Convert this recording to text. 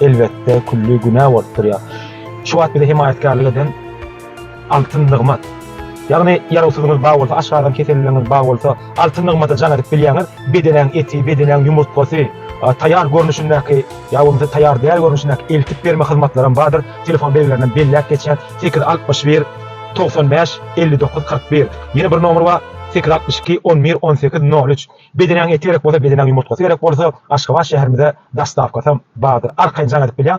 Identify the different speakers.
Speaker 1: Elbetde külli günä bolup durýar. Şu wagt bize hemaýatkärlik eden Altyn Nygmat. Ýagny ýarawsyzyňyz bar bolsa, aşgazan keselligiňiz bar bolsa, Altyn Nygmada jaň edip bilýäňiz. Bedenäň eti, bedenäň ýumurtgasy, taýýar görnüşindäki ýa bolmasa taýýar däl görnüşindäki eltip berme hyzmatlaram bardyr. Telefon belgilerinden belläp geçýän, sekiz altmyş bir, togsan bäş, elli dokuz, kyrk bir. Ýene bir nomer bar, sekiz altmyş iki, on bir, on sekiz, nol üç. Bedenäňe eti gerek bolsa bedenäň ýumurtgasy gerek bolsa Aşgabat şäherimize dostawkasam bardyr. Arkaýyn jaň edip bilýäň.